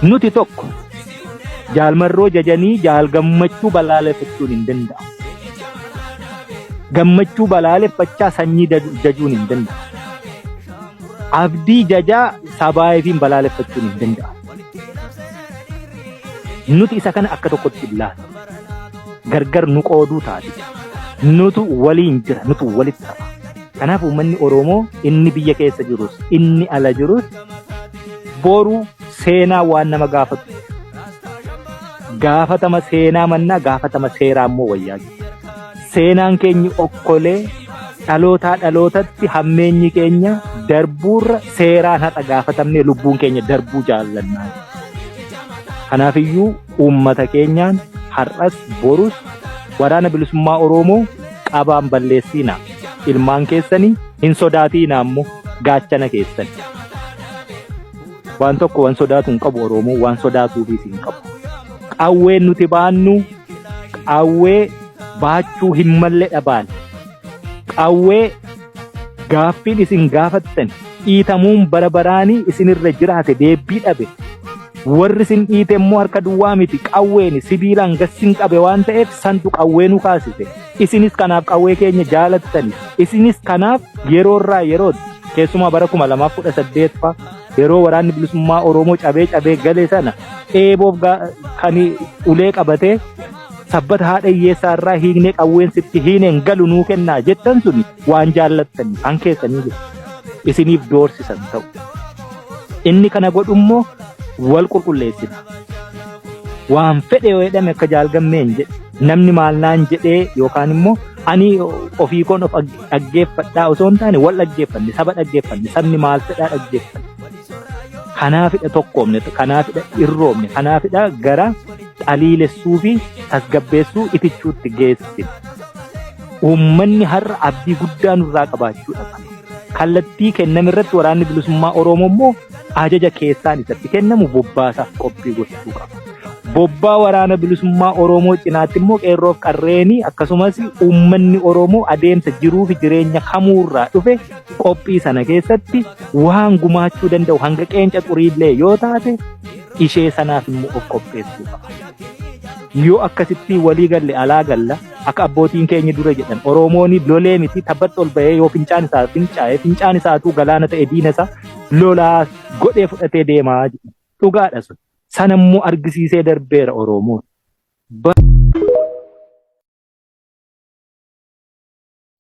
Nuti tokko jaalmarroo jajanii jaal gammachuu balaaleffachuun hin danda'amu. Gammachuu balaaleffachaa sanyii jajuun hin danda'amu. Abdii jajaa sabaayifiin balaaleffachuun hin danda'amu. Nuti isa kana akka tokkotti ilaalla. Gargar nu qooduu taate. Nutu waliin jira, nutu walitti hafa. Kanaaf uummanni Oromoo inni biyya keessa jirus, inni ala jirus boru seenaa waan nama gaafatu. Gaafatama seenaa mannaa gaafatama seeraa immoo wayyaa jiru. Seenaan keenyi okkolee dhalootaa dhalootatti hammeenyi keenya darbuurra seeraan haqa gaafatamnee lubbuun keenya darbuu jaallannaa. Kanaafiyyuu uummata keenyaan har'as borus waraana bilisummaa Oromoo qabaan balleessiina. Ilmaan keessanii hin sodaatiina ammoo gaachana keessan. Waan tokko waan sodaatu hin qabu Oromoo waan sodaatuufis hin qabu. Qawween nuti baannu qawwee baachuu hin malle dhabaan qawwee gaaffiin isin gaafattan dhiitamuun bara baraanii isinirra jiraate deebbii dhabe warri isin dhiite immoo harka duwwaa miti qawween sibiilaan gassin qabe waan ta'eef santu qawwee nu kaasise isinis kanaaf qawwee keenya jaalattani isinis kanaaf yeroorraa yerootti keessumaa bara kuma lamaaf kudha saddeet fa'a Yeroo waraanni bilisummaa Oromoo cabee cabee gale sana eeboof kan ulee qabatee sabbata haadha hiyyeessaa irraa hiiknee qawween sitti hiineen galu nuu kennaa jettan sun waan jaallattanii kan keessanii jiru. Isiniif doorsisan ta'u. Inni kana godhu immoo wal qulqulleessina. Waan fedhe yoo jedhame akka jaalgammeen jedhe namni maal naan jedhee yookaan immoo ani ofii koon of dhaggeeffadhaa osoo hin taane wal dhaggeeffanne saba dhaggeeffanne sabni maal fedhaa dhaggeeffanne. Kanaafidha tokkoomne kanaafidha irroomne kanaafidha gara xaliilessuu fi tasgabbeessuu itichuutti geessine. Uummanni har'a abdii guddaa nurraa qabaachuu dhaqa. Kallattii kenname irratti waraanni bilisummaa Oromoo immoo ajaja keessaan isatti kennamu bobbaasaaf qophii gochuu qaba. Bobbaa waraana bilisummaa Oromoo cinaatti immoo qeerroof qarreenii akkasumas uummanni Oromoo adeemsa jiruu fi jireenya kamuurraa dhufe qophii sana keessatti waan gumaachuu danda'u hanga qeenca xuriillee yoo taate ishee sanaaf immoo of qopheessuu qaba. Yoo akkasitti walii galle alaa galla akka abbootiin keenya dura jedhan Oromoon lolee miti tabbatti ol bahee yoo fincaan isaa fincaa'e fincaan isaatuu galaana ta'e diina isaa lolaas godhee fudhatee deemaa jedhu. Dhugaadha sun. Sana immoo argisiisee darbeera Oromoon.